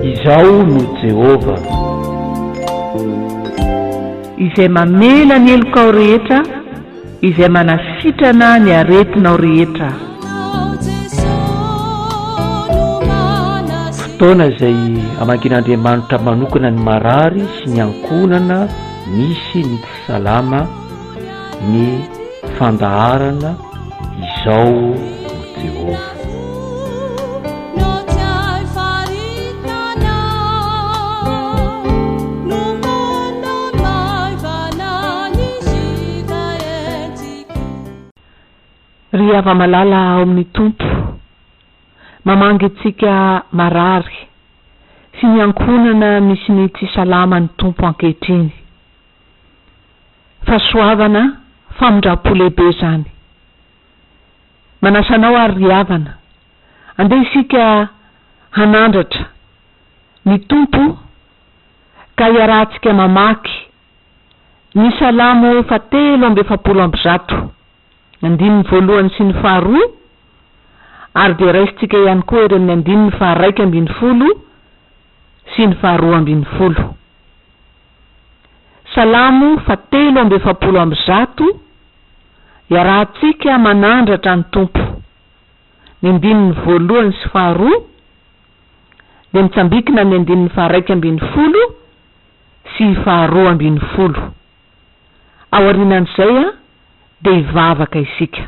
Izaho no Jehovah. Izay mamela ny helokao rehetra, izay manasitrana ny aretinao rehetra. Fotoana izay hamangian'Andriamanitra manokana ny marary sy ny ankohonana misy ny tsy salama. ny fandaharana Izao no Jehovah. Ry hava-malala ao amin'ny Tompo, mamangy antsika marary sy ny ankohonana misy ny tsy salama ny Tompo ankehitriny. Fahasoavana, famindrampo lehibe izany. Manasa anao ary ry havana, andeha isika hanandratra ny Tompo ka hiarahantsika mamaky ny Salamo faha telo amby efapolo amby zato, andininy voalohany sy ny faha roa, ary dia raisintsika ihany koa ery amin'ny andininy faha raika ambin'ny folo, sy ny faharoa ambin'ny folo. Salamo fahatelo amby efapolo amby zato, Iarahantsika manandratra ny Tompo. Ny andininy voalohany sy faharoa dia mitsambikina amin'ny andininy faharaika ambin'ny folo sy faharoa ambin'ny folo. Aorianan'izay dia hivavaka isika.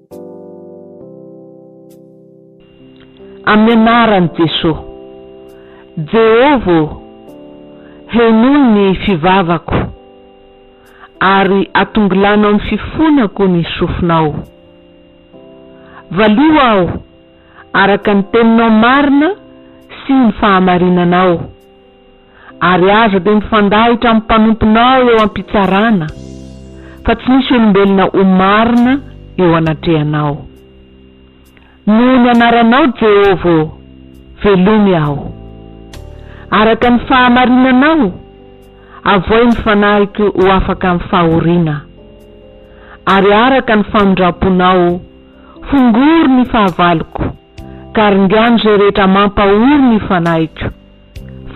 Amin'ny anaran'i Jesoa. Jehovah ô, henoy ny fivavako, ary atongilano amin'ny fifonako ny sofinao. Valio aho araka ny teninao marina sy ny fahamarinanao. ary aza dia mifandahitra amin'ny mpanomponao eo am-pitsarana, fa tsy misy olombelona ho marina eo anatrehanao. Noho ny anaranao, Jehovah ô, velomy aho. Araka ny fahamarinanao, avohay ny fanahiko ho afaka amin'ny fahoriana, ary araka ny famindram-ponao, fongory ny fahavaloko, ka ringano izay rehetra mampahory ny fanahiko.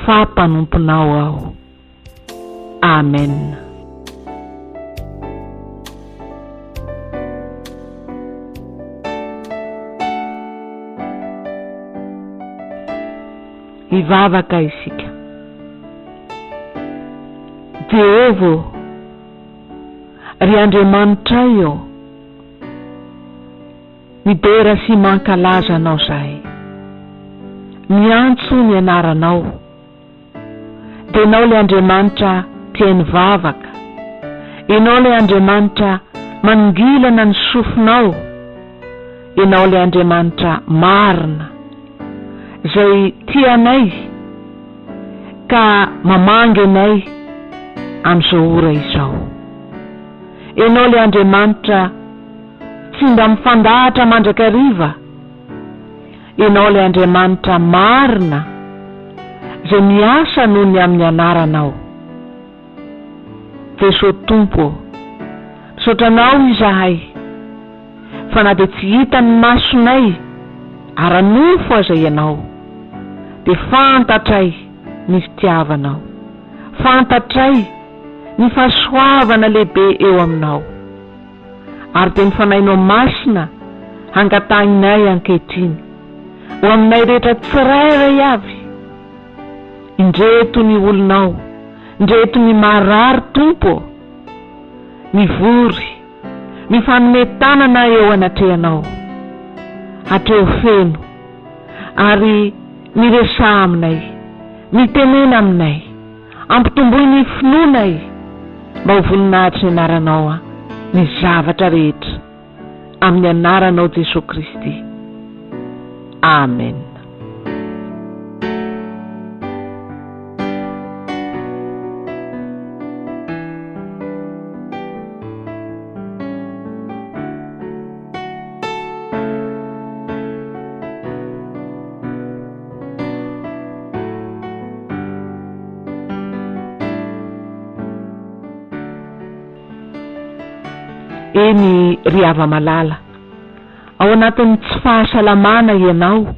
fa mpanomponao aho. Amen. Hivavaka isika. Jehovah ô, ry Andriamanitray ô, Midera sy mankalaza Anao zahay. Miantso ny Anaranao. Dia Enao le Andriamanitra tiainy vavaka. Enao le Andriamanitra manongilana ny sofinao. Enao le Andriamanitra marina. Zay tia anay ka mamangy anay amin'izao ora izao. Enao le Andriamanitra. Tsy mba mifandahatra mandrakariva Ianao ilay Andriamanitra marina izay miasa noho ny amin'ny Anaranao. Jeso Tompo ô, misaotra Anao izahay fa na dia tsy hitan'ny masonay ara-nofo aza Ianao dia fantatray ny fitiavanao, fantatray ny fahasoavana lehibe eo aminao. ary dia ny Fanahinao Masina hangatahinay ankehitriny ho aminay rehetra tsirairay avy. Indreto ny olonao, indreto ny marary Tompo ô! mivory, mifanome tanana eo anatrehanao, hatreo feno, ary miresaha aminay, mitenena aminay. Ampitomboy ny finoana e! Mba ho voninahitr'ny anaranao an! ny zavatra rehetra amin'ny anaranao Jesoa Kristy. Amen. Eny ry hava-malala, ao anatin'ny tsy fahasalamana ianao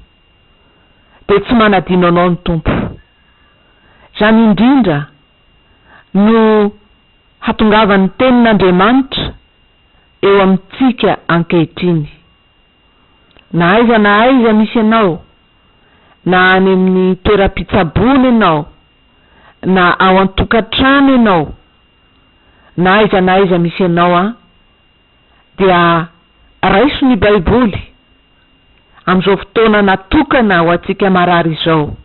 dia tsy manadino anao ny Tompo. Izany indrindra no hatongavan'ny Tenin'Andriamanitra eo amintsika ankehitriny. Na aiza na aiza misy anao, na any amin'ny toeram-pitsaboana ianao, na ao an-tokantrano ianao, na aiza na aiza misy anao an, dia raiso ny Baiboly amin'izao fotoana natokana ho antsika marary izao.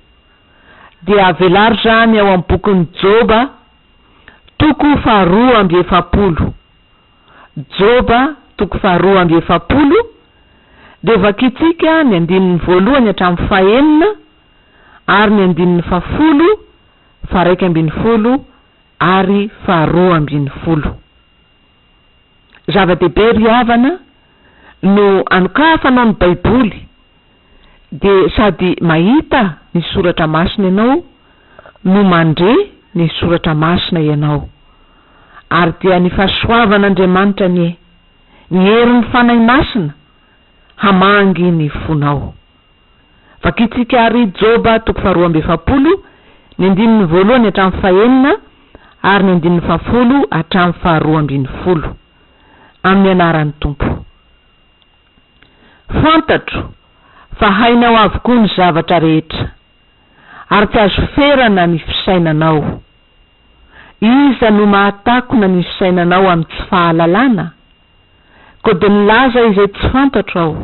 Dia velaro izany ao amin'ny bokin'i Joba, toko faharoa amby efapolo. Joba toko faharoa amby efapolo, dia vakintsika ny andininy voalohany hatramin'ny fahenina ary ny andininy fahafolo, faharaika ambin'ny folo ary faharoa ambin'ny folo. Zava-dehibe ry havana no anokafanao ny Baiboly dia sady mahita ny soratra masina ianao no mandre ny soratra masina ianao. Ary dia ny fahasoavan'Andriamanitra anie, ny herin'ny Fanahy Masina, hamangy ny fonao. Vakintsika àry Joba toko faharoa amby efapolo, ny andininy voalohany hatramin'ny fahenina ary ny andininy fahafolo hatramin'ny faharoa ambin'ny folo. Amin'ny anaran'ny Tompo. Fantatro fa hainao avokoa ny zavatra rehetra, ary tsy azo ferana ny fisainanao. Iza no mahatakona ny fisainanao amin'ny tsy fahalalana? Koa dia milaza izay tsy fantatro aho,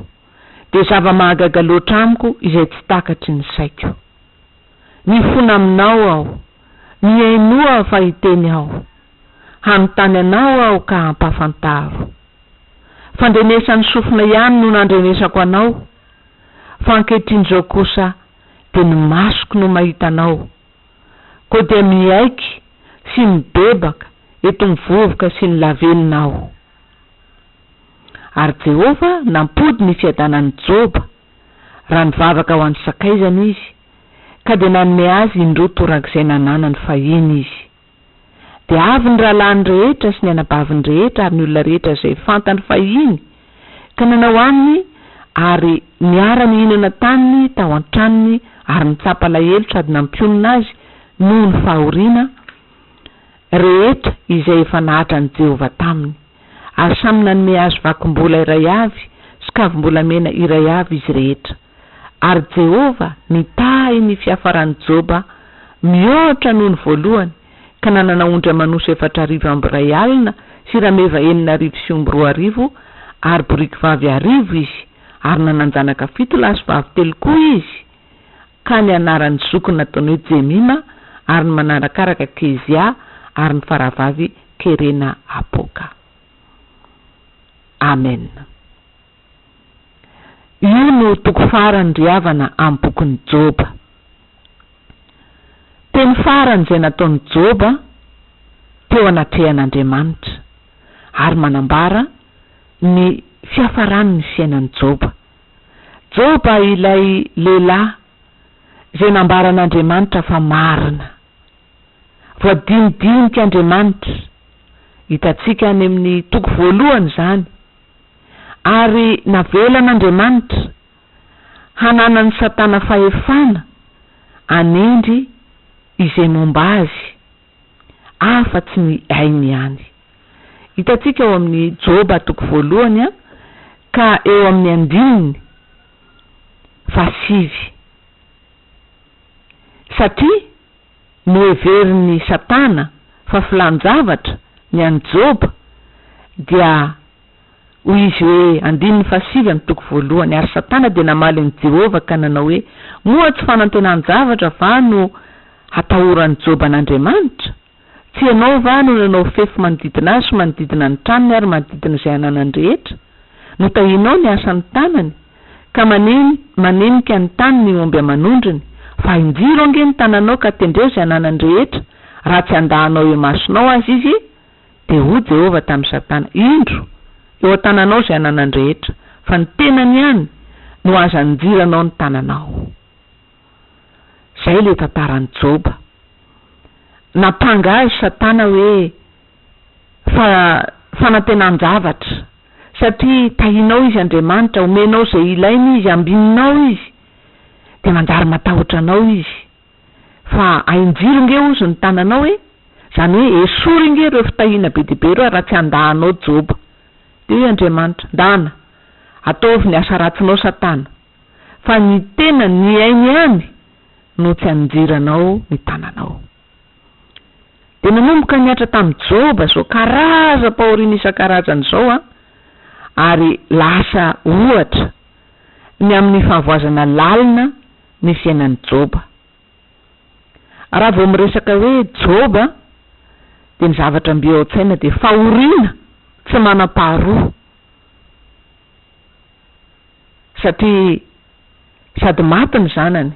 dia zava-mahagaga loatra amiko izay tsy takatry ny saiko. Mifona aminao aho, mihainoa fa hiteny aho, hanontany anao aho ka hampafantaro. Fandrenesan'ny sofina ihany no nandrenesako anao, fa ankehitrin'izao kosa dia ny masoko no mahita anao, koa dia miaiky sy mibebaka eto ny vovoka sy ny lavenona aho. Ary Jehovah nampody ny fiadanan'i Joba. raha nivavaka ho an'ny sakaizany izy, ka dia nanome azy indroa torak'izay nananany fahiny izy. Dia avy ny rahalahiny rehetra sy ny anabaviny rehetra ary ny olona rehetra izay fantany fahiny, ka nanao aminy ary niara-nihinana taminy tao an-tranony ary nitsapa alahelo sady nampionona azy noho ny fahoriana, rehetra izay efa nahatra an'i Jehovah taminy, ary samy nanome azy vakom-bola iray avy sy kavim-bolamena iray avy izy rehetra. Ary Jehovah nitahy ny fiafaran'i Joba mihoatra noho ny voalohany, ka nanana ondry aman'osy efatra arivo amby iray alina sy rameva enina arivo sy omby roa arivo ary borikivavy arivo izy, ary nanan-janaka fito lahy sy vavy telo koa izy. Ka ny anaran'ny zokiny nataony hoe Jemima, ary ny manarakaraka Kezia, ary ny farahavavy Kerena Apoka. Amena. Io no toko farany ry havana amin'ny bokin'i Joba. Teny farany izay nataon'i Joba teo anatrehan'Andriamanitra, ary manambara ny fiafaran'ny fiainan'i Joba. Joba ilay lehilahy izay nambaran'Andriamanitra fa marina. Voadinidinikan'Andriamanitra, hitantsika any amin'ny toko voalohany izany, ary navelan'Andriamanitra hananan'i Satana fahefana hanendry izay momba azy. afa tsy ny ainy ihany. Hitantsika ao amin'ny Joba toko voalohany an, ka eo amin'ny andininy fahasivy. Satria noheverin'i Satana fa filan-javatra ny an'i Joba, dia. Hoy izy hoe, andininy fahasivy amin'ny toko voalohany, Ary Satana dia namaly an'i Jehovah ka nanao hoe, Moa tsy fanantenan-javatra va no hatahoran'i Joba an'Andriamanitra? Tsy ianao va no nanao fefy manodidina azy sy manodidina ny tranony ary manodidina izay ananany rehetra? Notahianao ny asan'ny tanany, ka maneno manenika ny tany ny omby aman'ondriny. Fa injiro ange ny tananao ka tendreo izay ananany rehetra, raha tsy andahanao eo imasonao aza izy. Dia hoy Jehovah tamin'i Satana, Indro, eo an-tananao izay ananany rehetra, fa ny tenany ihany no azo anjiranao ny tananao. Izay ilay tantaran'i Joba. Nampanga azy Satana hoe fa fanantenan-javatra, satria tahinao izy Andriamanitra, omenao izay ilainy izy, ambininao izy, dia manjary matahotra anao izy. Fa ahin-jiro nge hozy ny tananao e! Izany hoe esory nge ireo fitahiana be dia be ireo raha tsy andahanao Joba. Dia hoy Andriamanitra, Ndana, ataovy ny asa ratsinao Satana, fa ny tena nihaino ihany no tsy aninjiranao ny tananao. Dia nanomboka nihatra tamin'i Joba izao karazam-pahoriana isan-karazany izao an, ary lasa ohatra ny amin'ny fahavoazana lalina ny fiainan'i Joba. Raha vao miresaka hoe Joba dia ny zavatra mbio ao an-tsaina dia fahoriana tsy manam-paharoa satria sady maty ny zanany,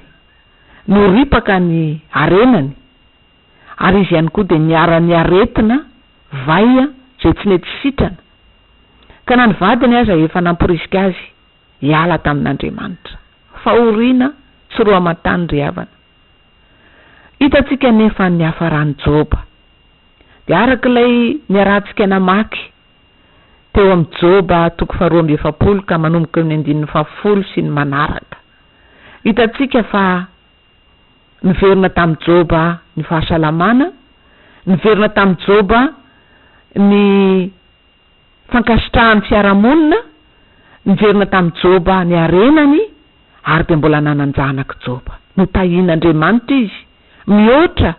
noripaka ny harenany ary izy ihany koa dia niharan'ny aretina vay izay tsy nety sitrana ka na ny vadiny aza efa namporisika azy Hiala tamin'Andriamanitra. Fahoriana tsy roa aman-tany ry havana. Hitantsika anefa ny hafaran'i Joba. Dia araka ilay niarahantsika namaky teo amin'ny Joba toko faharoa amby efapolo ka manomboka eo amin'ny andininy fahafolo sy ny manaraka. Hitantsika fa niverina tamin'i Joba ny fahasalamana, niverina tamin'i Joba ny. fankasitrahan'ny fiarahamonina niverina tamin'i Joba ny harenany ary dia mbola nanan-janak'i Joba. Notahian'Andriamanitra izy mihoatra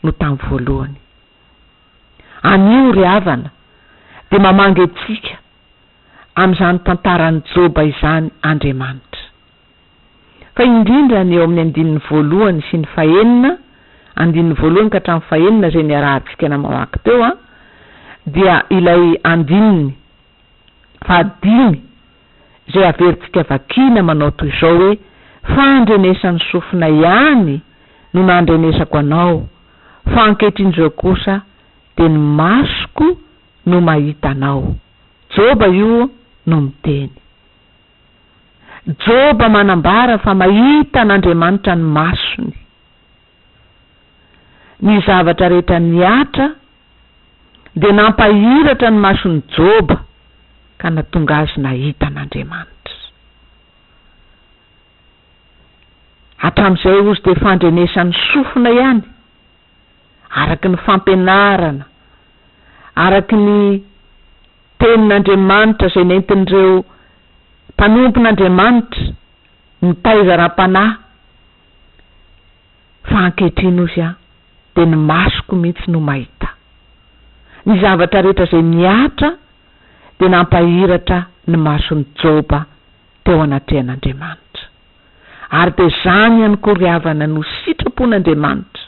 noho tamin'ny voalohany. Anio ry havana dia mamangy antsika amin'izany tantaran'i Joba izany Andriamanitra. Fa indrindra ny eo amin'ny andininy voalohany sy ny fahenina, andininy voalohany ka hatramin'ny fahenina izay niarahantsika namawaky teo an, dia ilay andininy fahadimy izay averintsika vakiana manao toy izao hoe, Fa andrenesan'ny sofinay ihany no nandrenesako anao, fa ankehitriny izao kosa dia ny masoko no mahita anao. Joba io no miteny. Joba manambara fa mahita an'Andriamanitra ny masony. Ny zavatra rehetra nihatra dia nampahiratra ny mason'i Joba ka natonga azy nahita an'Andriamanitra. Hatramin'izay ozy dia fandrenesan'ny sofina ihany. araka ny fampianarana, araka ny Tenin'Andriamanitra izay nentin'ireo mpanompon'Andriamanitra nitaiza ara-panahy, fa ankehitriny hozy aho dia ny masoko mihitsy no mahita. Ny zavatra rehetra izay nihatra dia nampahiratra ny mason'i Joba teo anatrehan'Andriamanitra. Ary dia izany ihany koa ry havana no sitrapon'Andriamanitra,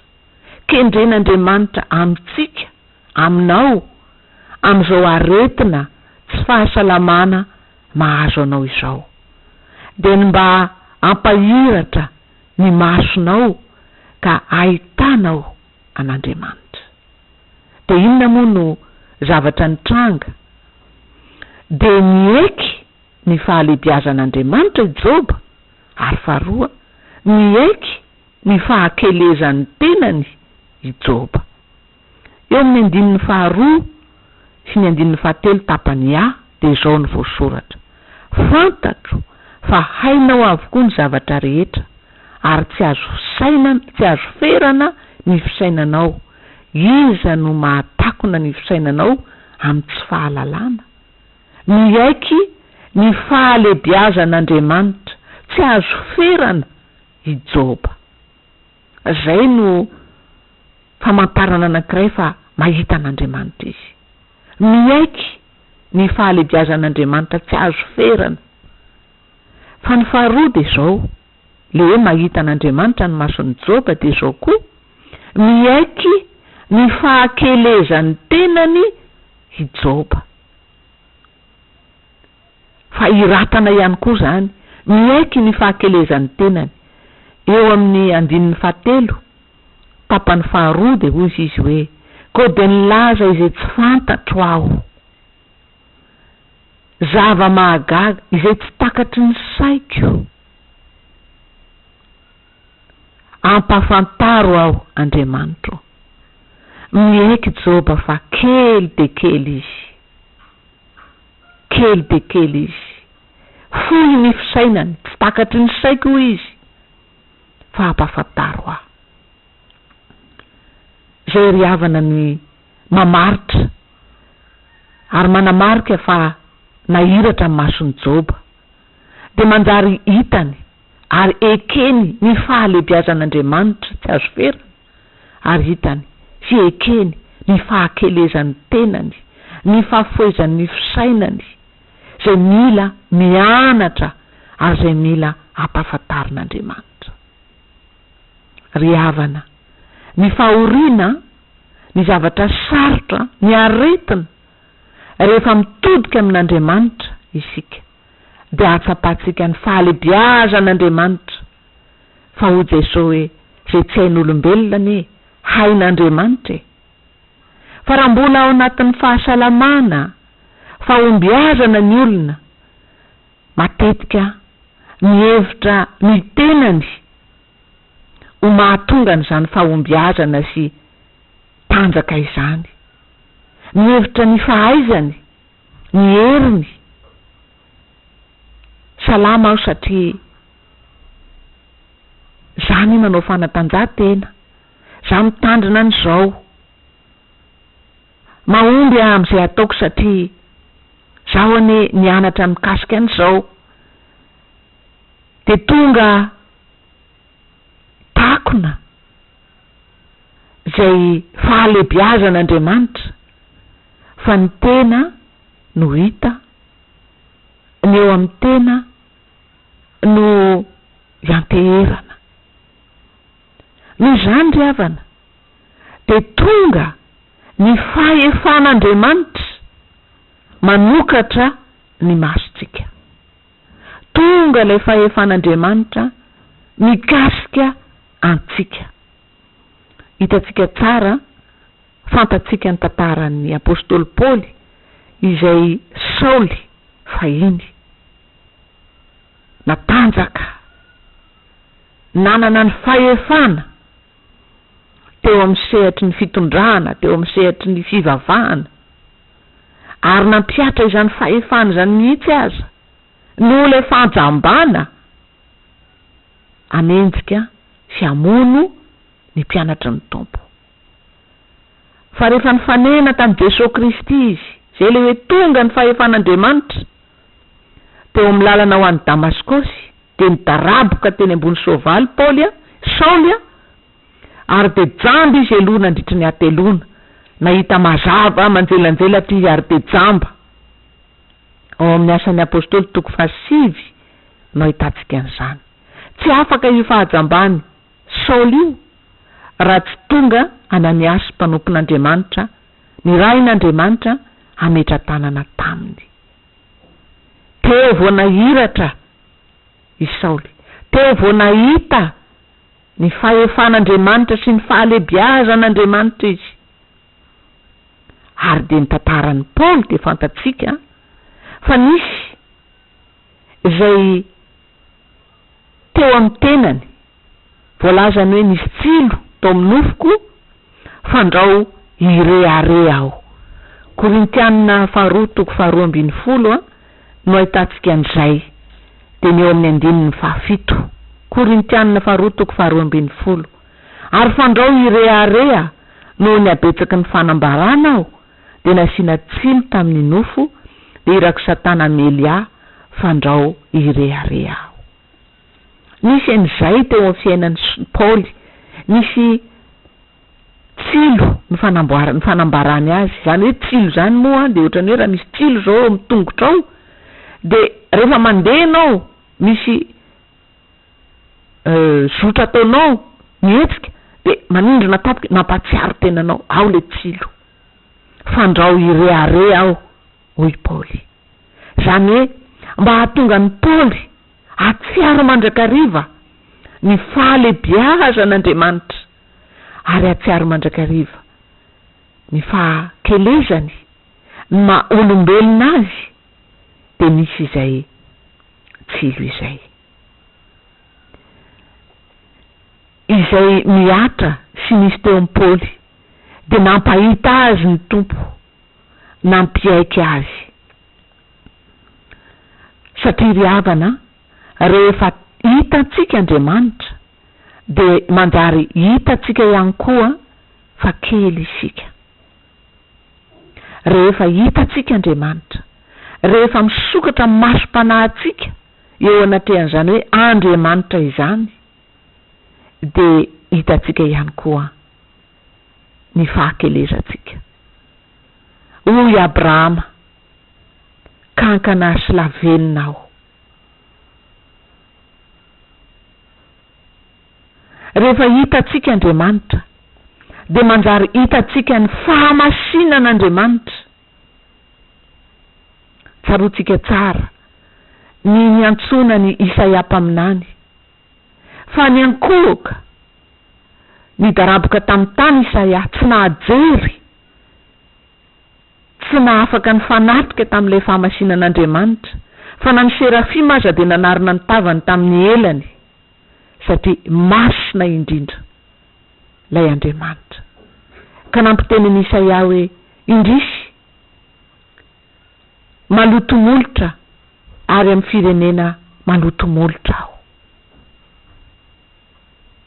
kendren'Andriamanitra amintsika, aminao, amin'izao aretina tsy fahasalamana mahazo anao izao. Dia ny mba hampahiratra ny masonao ka hahitanao an'Andriamanitra. Dia inona moa no zavatra nitranga? Dia nieky ny fahalehibiazan'Andriamanitra i Joba, ary faharoa, niaiky ny fahakelezan'ny tenany i Joba. Eo amin'ny andininy faharoa sy ny andininy fahatelo tapany A dia izao no voasoratra, Fantatro fa hainao avokoa ny zavatra rehetra, ary tsy azo fisainana, tsy azo ferana ny fisainanao, iza no mahatakona ny fisainanao amin'ny tsy fahalalana? Miaiky ny fahalebiazan'Andriamanitra tsy azo ferana i Joba. Izay no famantarana anankiray fa mahita an'Andriamanitra izy. Miaiky ny fahalebiazan'Andriamanitra tsy azo ferana. Fa ny faharoa dia izao, ilay hoe mahita an'Andriamanitra ny mason'i Joba dia izao koa, miaiky ny fahakelezan'ny tenany i Joba. Fahiratana ihany koa izany miaiky ny fahakelezan'ny tenany. Eo amin'ny andininy fahatelo, tapany faharoa dia hoy izy hoe, Koa dia nilaza izay tsy fantatro aho, zava-mahagaga izay tsy takatry ny saiko. Ampahafantaro aho, Andriamanitro. Miaiky Joba fa kely dia kely izy. Kely dia kely izy. Fohy ny fisainany, tsy takatry ny saiko hoy izy, fa ampahafantaro aho. Izay ry havana ny mamaritra ary manamarika fa nahiratra ny mason'i Joba, dia manjary hitany, ary ekeny ny fahalebiazan'Andriamanitra tsy azo ferana, ary hitany sy ekeny ny fahakelezan'ny tenany, ny fahafohezan'ny fisainany, izay mila mianatra ary izay mila ampahafantarin'Andriamanitra. Ry havana, ny fahoriana, ny zavatra sarotra, ny aretina, rehefa mitodika amin'Andriamanitra isika. dia ahatsapantsika ny fahalebiazan'Andriamanitra fa hoy Jesoa hoe izay tsy hain'olombelona anie hain'Andriamanitra e! Fa raha mbola ao anatin'ny fahasalamana, fahombiazana ny olona, matetika mihevitra ny tenany ho mahatonga an'izany fahombiazana sy tanjaka izany, mihevitra ny fahaizany, ny heriny. Salama aho satria za anie manao fanatanjahantena, za mitandrina an'izao. Mahomby aho amin'izay ataoko satria zaho anie nianatra mikasika an'izao. Dia tonga. takona izay fahalebiazan'Andriamanitra fa ny tena no hita, ny eo amin'ny tena no ianteherana. Noho izany ry havana dia tonga ny fahefan'Andriamanitra manokatra ny masontsika. Tonga ilay fahefan'Andriamanitra mikasika antsika. Hitantsika tsara, fantatsika ny tantaran'ny apostoly Paoly izay Saoly fahiny. Natanjaka, nanana ny fahefana teo amin'ny sehatry ny fitondrana, teo amin'ny sehatry ny fivavahana. ary nampihatra izany fahefana izany mihitsy aza, noho ilay fahajambana hanenjika sy hamono ny mpianatry ny Tompo. Fa rehefa nifanena tamin'i Jesoa Kristy izy, izay ilay hoe tonga ny fahefan'Andriamanitra, teo amin'ny lalana ho any Damaskosy, dia nidaraboka teny ambony soavaly Paoly, Saoly, Ary dia jamba izy eloha nandritry ny hateloana, nahita mazava manjelanjela ity izy ary dia jamba. Ao amin'ny Asan'ny Apostoly toko fahasivy no ahitantsika an'izany. Tsy afaka io fahajamban'i Saoly io raha tsy tonga Ananiasy mpanompon'Andriamanitra nirahin'Andriamanitra hametra-tanana taminy. Teo vao nahiratra i Saoly, teo vao nahita. Ny fahefan'Andriamanitra sy ny fahalebiazan'Andriamanitra izy. Ary dia ny tantaran'i Paoly dia fantatsika fa nisy izay teo amin'ny tenany, voalazany hoe nisy tsilo tao amin'ny nofoko, Fandrao hirehareha aho. Korintiana faharoa toko faharoa ambin'ny folo a no ahitantsika an'izay, dia ny eo amin'ny andininy fahafito. Korintiana faharoa toko faharoa ambin'ny folo. Ary fandrao hirehareha noho ny habetsaky ny fanambarana aho, dia nasiana tsiny tamin'ny nofo, dia irak'i Satana hamely ahy, fandrao hirehareha aho. Nisy an'izay teo amin'ny fiainan'i Paoly. Nisy tsilo ny fanambarany azy. Izany hoe tsilo izany moa dia ohatran'ny hoe raha misy tsilo izao eo amin'ny tongotrao dia rehefa mandeha ianao misy zotra ataonao mihetsika dia manindrona tampoka mampahatsiaro tena anao ao ilay tsilo. Fandrao hirehareha aho hoy Paoly. Izany hoe mba hahatonga an'i Paoly Hatsiaro mandrakariva ny fahalebiazan'Andriamanitra, ary hatsiaro mandrakariva ny fahakelezany ny maha olombelona Azy, dia misy izay tsilo izay. Izay mihatra sy nisy teo amin'ny Paoly, dia nampahita azy ny Tompo, nampiaiky azy. Satria ry havana a, rehefa hitantsika Andriamanitra dia manjary hitantsika ihany koa fa kely isika. Rehefa hitantsika Andriamanitra, rehefa misokatra amin'ny masom-panahintsika eo anatrehan'izany hoe Andriamanitra izany, dia hitantsika ihany koa ny fahakelezantsika. Hoy Abrahama. kankana ary sy lavenona aho. Rehefa hitantsika Andriamanitra, dia manjary hitantsika ny fahamasinan'Andriamanitra. Tsaroantsika tsara ny niantsoana an'i Isaia mpaminany, fa niankohoka nidaraboka tamin'ny tany Isaia, tsy nahajery. Tsy nahafaka nifanatrika tamin'ilay fahamasinan'Andriamanitra, fa na ny serafima aza dia nanarona ny tavany tamin'ny elany, satria masina indrindra Ilay Andriamanitra. Ka nampiteny an'i Isaia hoe, Indrisy! Maloto molotra ary amin'ny firenena maloto molotra aho.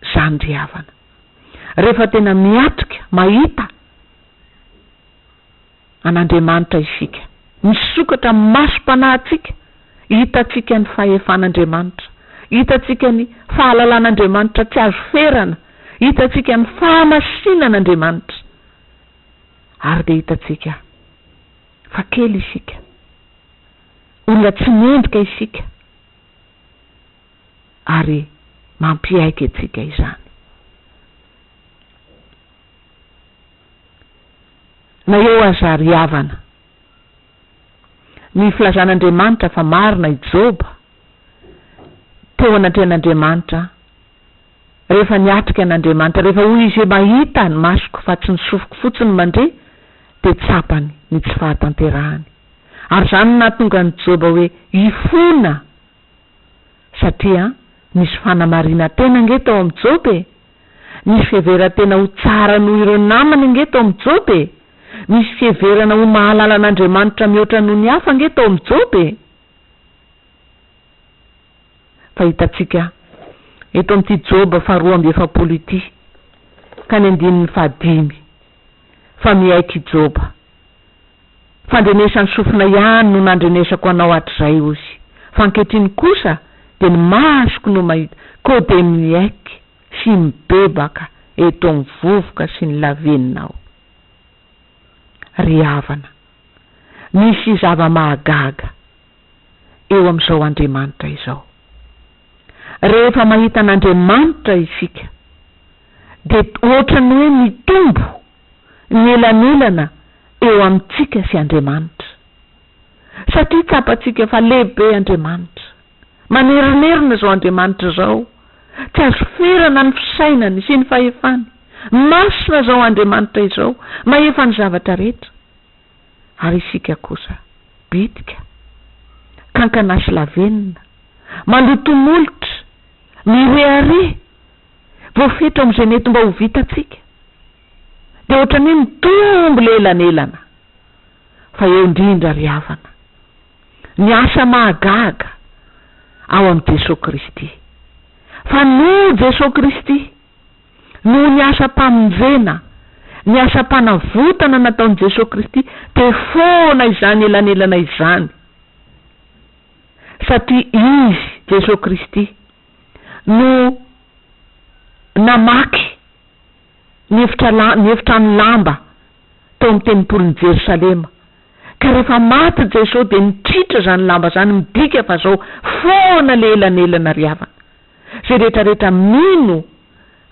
Izany ry havana. Rehefa tena miatrika, mahita, an'Andriamanitra isika. Misokatra amin'ny masom-panahintsika, hitantsika ny fahefan'Andriamanitra, hitantsika ny fahalalan'Andriamanitra tsy azo ferana, hitantsika ny fahamasinan'Andriamanitra, ary dia hitantsika fa kely isika, olona tsy mendrika isika, ary mampiaiky antsika izany. Na eo aza ry havana, ny filazan'Andriamanitra fa marina i Joba teo anatrehan'Andriamanitra rehefa niatrika an'Andriamanitra, rehefa hoy izy hoe, Mahita ny masoko fa tsy ny sofiko fotsiny mandre, dia tsapany ny tsy fahatanterahany. Ary izany no nahatonga an'i Joba hoe hifona, satria nisy fanamarina-tena ange tao amin'i Joba e! Misy fiheveran-tena ho tsara noho ireo namany ange tao amin'i Joba e! Misy fiheverana ho mahalala an'Andriamanitra mihoatra noho ny hafa ange tao amin'i Joba e! Fa hitantsika eto amin'ity Joba faharoa amby efapolo ity ka ny andininy fahadimy fa miaiky i Joba. Fandrenesan'ny sofina ihany no nandrenesako anao hatrizay hozy, fa ankehitriny kosa dia ny masoko no mahita ko dia miaiky sy mibebaka eto amin'ny vovoka sy ny laveninao. Ry havana, misy zava-mahagaga eo amin'izao Andriamanitra izao. Rehefa mahita an'Andriamanitra isika dia ohatran'ny hoe mitombo. ny elanelana eo amintsika sy Andriamanitra. Satria tsapantsika fa lehibe Andriamanitra. Manerinerina izao Andriamanitra izao, tsy azo ferana ny fisainany sy ny fahefany. Masina izao Andriamanitra izao, mahefa ny zavatra rehetra. Ary isika kosa, bitika, kankana sy lavenona, mandoto molotra, mirehareha, voafetra ao amin'izay mety mba ho vitantsika, dia ohatran'ny hoe mitombo ilay elanelana. Fa eo indrindra, ry havana, ny asa mahagaga ao amin'i Jesoa Kristy. Fa noho Jesoa Kristy, noho ny asam-pamonjena, ny asam-panavotana nataon'i Jesoa Kristy, dia foana izany elanelana izany. Satria Izy, Jesoa Kristy, no namaky ny efitra la, ny efitrano lamba tao amin'ny tempolin'i Jerosalema. Ka rehefa maty Jeso dia nitritra izany lamba izany, midika fa zao foana le elanelana ry havana. Zay rehetra rehetra mino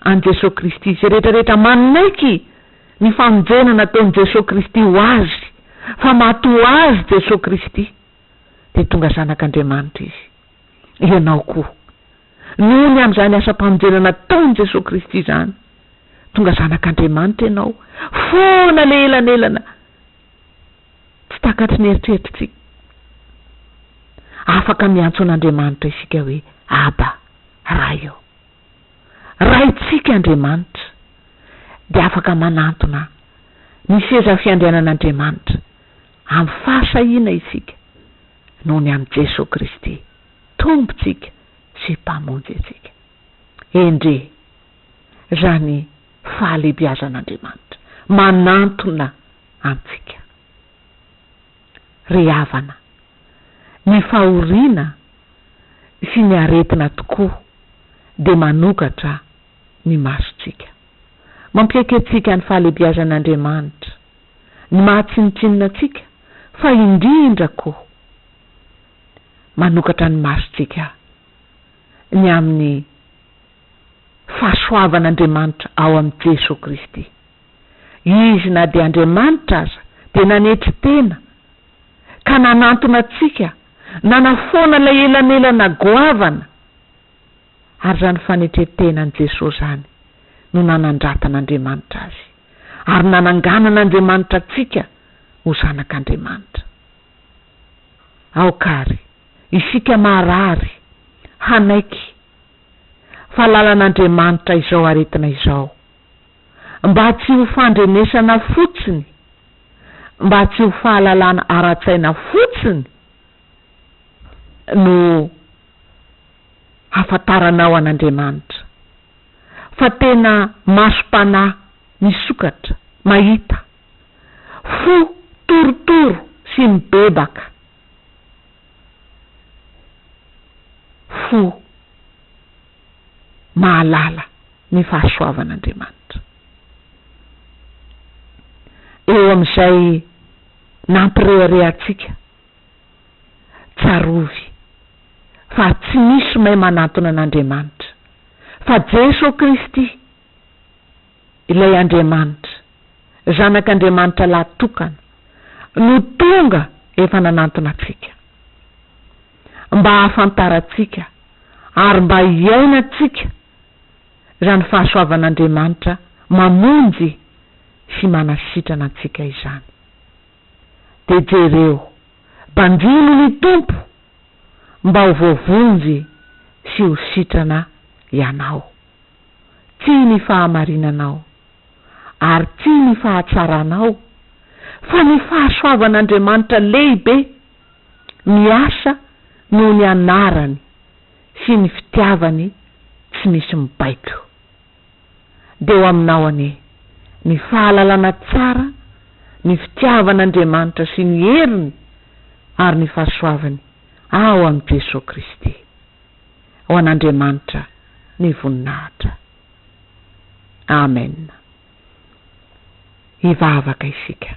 an'i Jeso Kristy, zay rehetra rehetra manaiky ny famonjena nataon'i Jeso Kristy ho azy, fa maty ho azy Jeso Kristy, dia tonga zanak'Andriamanitra izy. ianao koa. Noho ny amin'izany asam-panorenana nataon'i Jesoa Kristy izany, tonga zanak'Andriamanitra ianao, foana ilay elanelana tsy takatry ny eritreritritsika. Afaka miantso an'Andriamanitra isika hoe Aba, Ray ô. Raintsika Andriamanitra dia afaka manantona ny seza fiandrianan'Andriamanitra. Amin'ny fahasahiana isika noho ny amin'i Jesoa Kristy, Tompontsika sy Mpamonjy antsika. Endrey! Izany fahalehibiazan'Andriamanitra manantona antsika. Ry havana, ny fahoriana sy ny aretina tokoa dia manokatra ny masontsika. Mampiaiky antsika ny fahalehibiazan'Andriamanitra. ny mahatsinontsinona antsika fa indrindra koa manokatra ny masontsika ny amin'ny fahasoavan'Andriamanitra ao amin'i Jesoa Kristy. Izy na dia Andriamanitra aza dia nanetry tena ka nanantona antsika nanafoana ilay elanelana goavana. Ary izany fanetren-tenan'i Jesoa izany no nanandratan'Andriamanitra Azy, ary nananganan'Andriamanitra antsika ho zanak'Andriamanitra. Aoka àry isika maharary hanaiky fa lalan'Andriamanitra izao aretina izao, mba tsy ho fandrenesana fotsiny, mba tsy ho fahalalana ara-tsaina fotsiny no. hafantaranao an' Andriamanitra, fa tena masom-panahy misokatra, mahita, fo torotoro sy mibebaka, fo mahalala ny fahasoavan' Andriamanitra. Eo amin' izay nampireharehantsika, tsarovy. fa tsy misy may manantona an'Andriamanitra fa Jeso Kristy ilay Andriamanitra, Zanak'Andriamanitra lahy tokana, no tonga efa nanantona antsika. Mba hahafantarantsika ary mba hiainantsika izany fahasoavan'Andriamanitra mamonjy sy manasitrana antsika izany. Dia jereo, banjino ny Tompo! mba ho voavonjy sy ho sitrana ianao. Tsy ny fahamarinanao, ary tsy ny fahatsaranao, fa ny fahasoavan'Andriamanitra lehibe, miasa noho ny anarany sy ny fitiavany tsy misy mibaiko. dia ho aminao anie ny fahalalana tsara ny fitiavan'Andriamanitra sy ny heriny ary ny fahasoavany ao amin'i Jesoa Kristy. Ho an'Andriamanitra ny voninahitra. Amen. Hivavaka isika.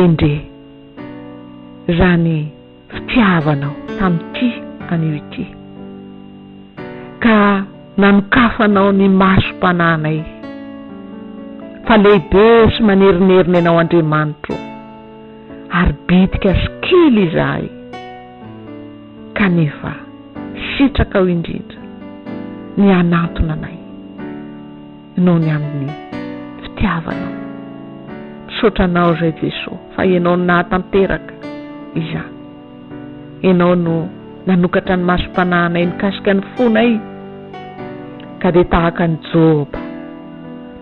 Endre, raha ny fitiavanao tamin'ity anio ity, ka nanokafanao ny masom-panahinay, fa lehibe sy manerinerina ianao Andriamanitro ô, ary bitika sy kely izahay, kanefa sitrakao indrindra ny hanantona anay. noho ny amin'ny fitiavanao. Misaotra anao Ray Jeso fa Ianao no nahatanteraka izany. Ianao no nanokatra ny masom-panahinay mikasika ny fonay ka dia tahaka an'i Joba,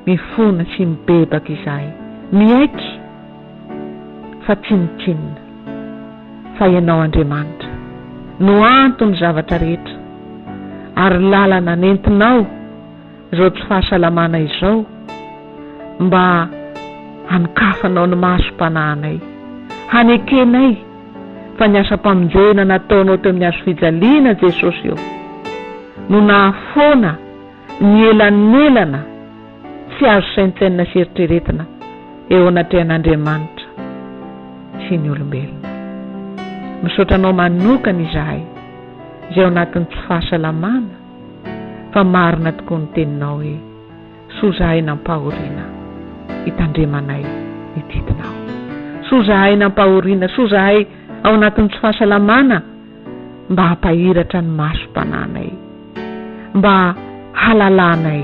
mifona sy mibebaka izahay, miaiky fa tsinontsinona fa Ianao Andriamanitra no anton'ny zavatra rehetra ary lalana nentinao izao tsy fahasalamana izao mba hanokafanao ny masom-panahinay, hanekenay fa ny asam-pamonjena nataonao teo amin'ny hazofijaliana Jesosy ô, no nahafoana ny elanelana tsy azo saintsainina sy eritreretina eo anatrehan'Andriamanitra sy ny olombelona. Misaotra anao manokana izahay izay ao anatin'ny tsy fahasalamana, fa marina tokoa ny teninao hoe soa zahay nampahoriana hitandremanay ny didinao soa zahay nampahoriana soa zahay ao anatin'ny tsy fahasalamana mba hampahiratra ny maso mpananay mba halalanay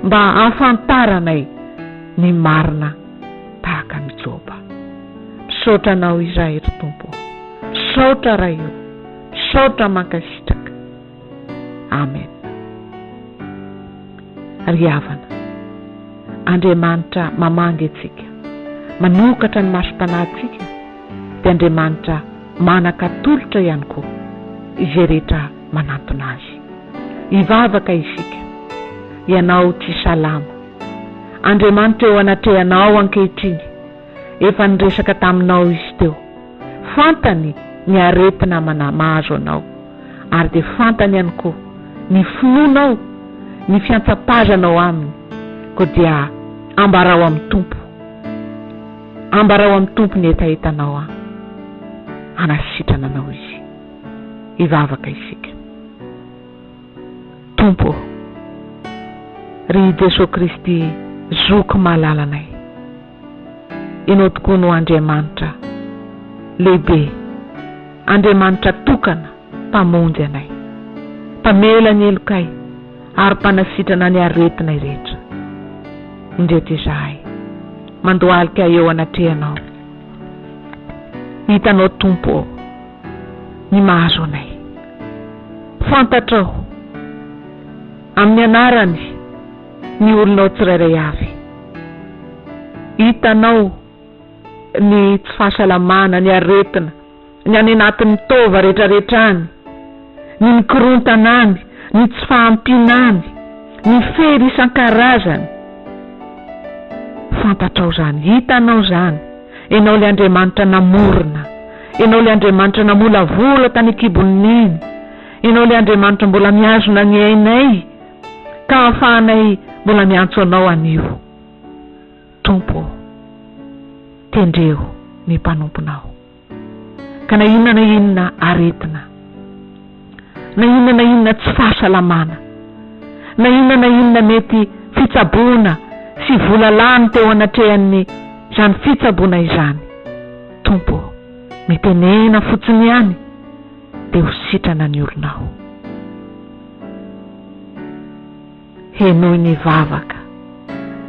mba hafantaranay ny marina tahaka ny joba misaotra anao izay ry tompo misaotra ray o misaotra mankasitraka Amen. Ry havana, Andriamanitra mamangy antsika, manokatra ny masom-panahintsika, dia Andriamanitra manan-katolotra ihany koa izay rehetra manantona Azy. Hivavaka isika, Ianao tsy salama. Andriamanitra eo anatrehanao ankehitriny. Efa niresaka taminao izy teo. Fantany ny aretina mahazo anao, ary dia fantany ihany koa ny finoanao, ny fiantsapazanao Aminy, koa dia ambarao amin'ny Tompo, ambarao amin'ny Tompo ny hetahetanao an! Hanasitrana anao Izy. Hivavaka isika. Tompo ô! Ry Jesoa Kristy Zoky malalanay. Ianao tokoa no Andriamanitra lehibe, Andriamanitra tokana, Mpamonjy anay, Mpamela ny helokay, ary Mpanasitrana ny aretinay rehetra. Indreto izahay mandohalika eo anatrehanao, hitanao Tompo ô, ny mahazo anay. Fantatrao, amin'ny Anarany. ny olonao tsirairay avy. Hitanao ny tsy fahasalamana, ny aretina, ny any anatin'ny taova rehetrarehetra any, ny mikorontana any, ny tsy fahampiana any, ny fery isan-karazany. Fantatrao izany. Hitanao izany. Ianao ilay Andriamanitra namorona. Ianao ilay Andriamanitra namolavola tany an-kibon'ny neny. Ianao ilay Andriamanitra mbola mihazona ny ainay. ka ahafahanay mbola miantso Anao anio. Tompo ô, tendreo ny mpanomponao, ka na inona na inona aretina, na inona na inona tsy fahasalamana, na inona na inona mety fitsaboana sy vola lany teo anatrehan'izany fitsaboana izany, Tompo ô, mitenena fotsiny ihany dia ho sitrana ny olonao. Henoy ny vavaka,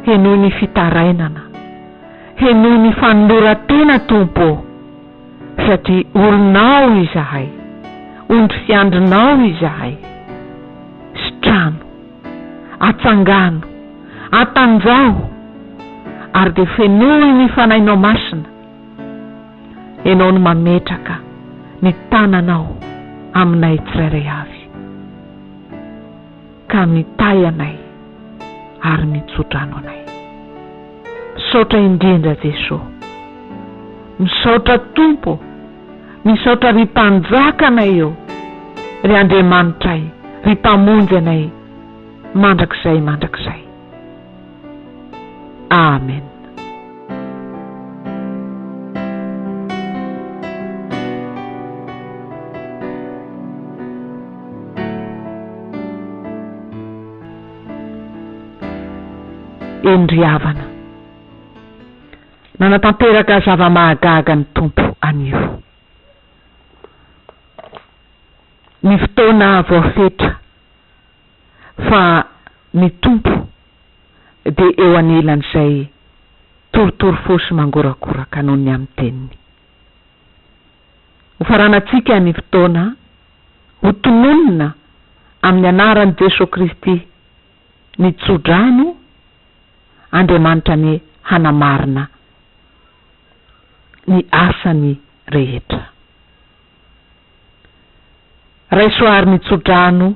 henoy ny fitarainana, henoy ny fanoloran-tena Tompo ô, satria olonao izahay, ondry fiandrinao izahay. Sitrano, atsangano, atanjaho, ary dia fenoy ny Fanahinao Masina. Ianao no mametraka ny tananao aminay tsirairay avy, ka mitahy anay ary mitso-drano anay. Misaotra indrindra Jeso. Misaotra Tompo ô. Misaotra ry Mpanjaka anay ô. Ry Andriamanitray, ry Mpamonjy anay mandrakizay mandrakizay. Amen. Eny ry havana, nanatanteraka zava-mahagaga ny Tompo anio. Ny fotoana voafetra. fa ny Tompo dia eo anelan'izay torotoro fo sy mangorakoraka noho ny amin'ny Teniny. Hofaranantsika ny fotoana hotononina amin'ny anaran'i Jesoa Kristy ny tso-drano, Andriamanitra anie hanamarina ny asany rehetra. Raiso àry ny tsodrano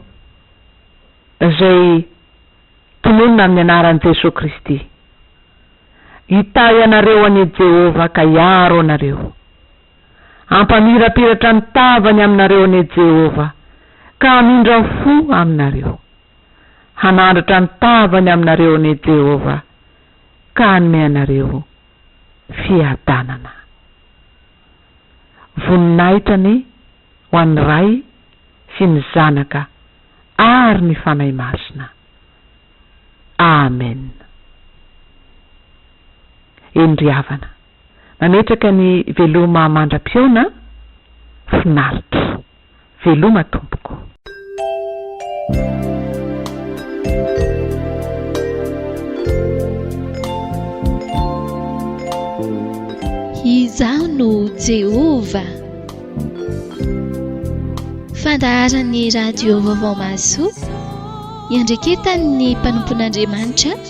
izay tononina amin'ny anaran'i Jesoa Kristy. Hitahy anareo anie Jehovah ka hiaro anareo. Hampamirapiratra ny tavany aminareo anie Jehovah ka hamindra fo aminareo. Hanandratra ny tavany aminareo anie Jehovah ka hanome anareo fiadanana. voninahitra anie ho an'ny Ray sy ny Zanaka ary ny Fanahy Masina. Amen. Eny ry havana, mametraka ny veloma mandra-pihaona, finaritra. Veloma tompoko. Izaho no Jehovah. Fandaharan'ny Radio Vaovao Mahasoa, iandreketan'ny mpanompon'Andriamanitra,